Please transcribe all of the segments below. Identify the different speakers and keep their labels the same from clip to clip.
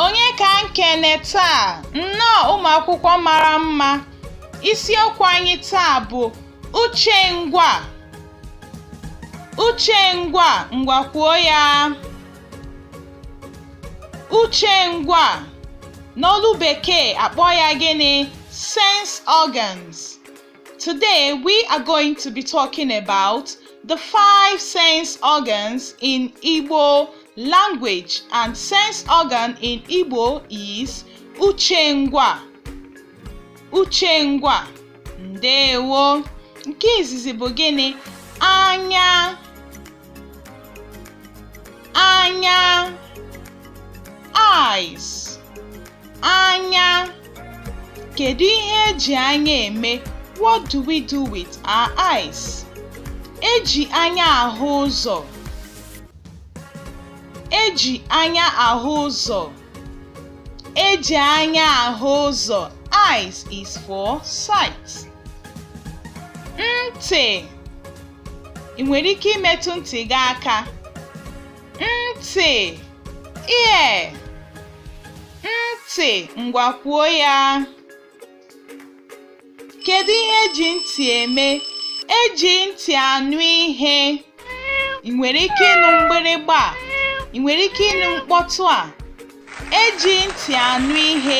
Speaker 1: Onye ka m kene taa? Nnọọ ụmụ akwụkwọ mara mma. Isiokwu anyị taa bụ uche ngwa. Uche ngwa, ngwa kwuo ya. Uche ngwa n'olu bekee akpọ ya gịnị sense organs today we are going to be talking about the five sense organs in Igbo language and sense organ in Igbo is uche ngwa uche ngwa ndewo nke izizi bụ gịnị anya anya eyes anya kedu ihe eji anya eme what do we do with our eyes eji anya ahụ ụzọ eji anya ahụ ụzọ Eji anya ahụ ụzọ. Eyes is for sight. Ntị. Ị nwere ike imetụ ntị gị aka. Ntị. Ear. Ntị. Ngwa kwuo ya. Kedu ihe eji ntị eme? Eji ntị anụ ihe. Ị nwere ike ịnụ mgbịrịgba a? Ị nwere ike ịnụ mkpọtụ a? Eji ntị anụ ihe.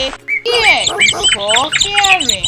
Speaker 1: Ear is for hearing.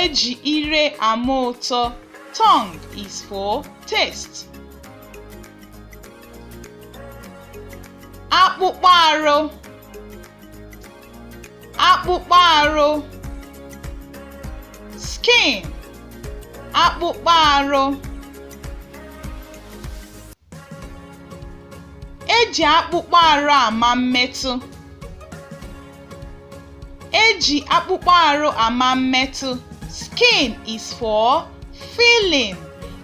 Speaker 1: Eji ire ama ụtọ. Tongue is for taste. Akpụkpọ arụ. Akpụkpọ arụ. Skin. Akpụkpọ arụ. Eji akpụkpọ arụ ama mmetụ. Eji akpụkpọ arụ ama mmetụ. Skin is for feeling.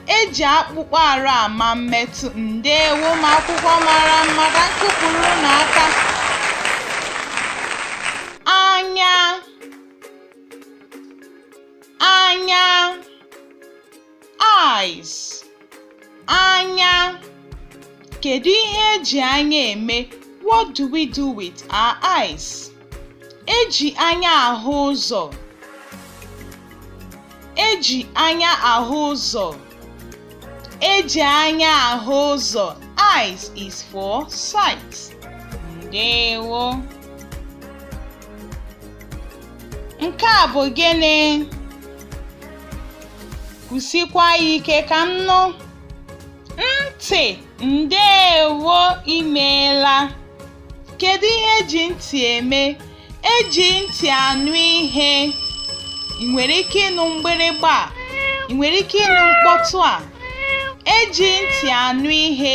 Speaker 1: Eji akpụkpọ arụ ama mmetụ. Ndewo ụmụ akwụkwọ mara mma ka m kụpụrụ unu aka. Anya. Anya. eyes anya kedu ihe eji anya eme what do we do with our eyes eji anya ahụ ụzọ eji anya ahụ ụzọ eji anya ahụ ụzọ eyes is for sight ndewo Nke a bụ gịnị? Kwusikwa ya ike ka m nụ. Ntị, ndeewo imeela. Kedu ihe eji ntị eme? Eji ntị anụ ihe. Ị nwere ike ịnụ mgbịrịgba a? Ị nwere ike ịnụ mkpọtụ a? Eji ntị anụ ihe.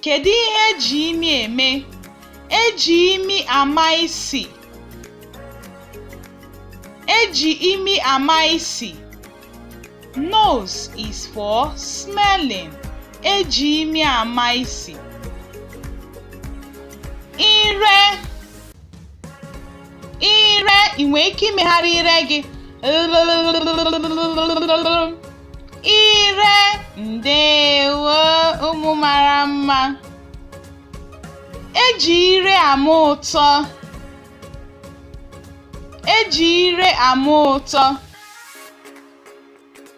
Speaker 1: Kedu ihe eji imi eme? Eji imi ama isi. Eji imi ama isi. Nose is for smelling. Eji imi ama isi. Ire ire ị nwere ike imegharị ire gị ire ndewo ụmụ mara mma eji ire ama ụtọ eji ire ama ụtọ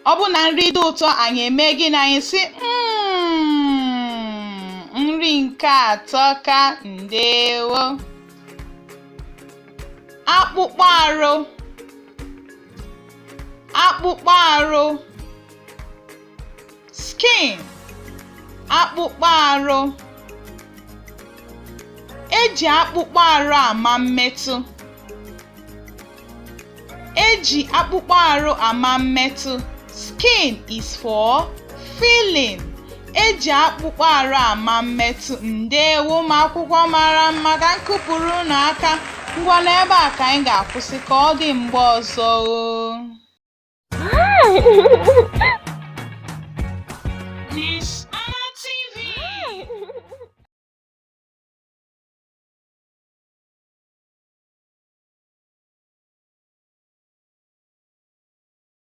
Speaker 1: ọ bụ na nri dị ụtọ anyị eme gịnị anyị sị hmm, nri nke a atọka ndewo akpụkpọ arụ akpụkpọ arụ skin akpụkpọ arụ eji akpụkpọ arụ ama mmetụ eji akpụkpọ arụ ama mmetụ Skin is for feeling. Eji akpụkpọ arụ ama mmetụ. Ndewo ụmụ akwụkwọ mara mma ka m kụpụrụ unu aka. Ngwa n'ebe a ka anyị ga-akwụsị ka ọ dị mgbe ọzọ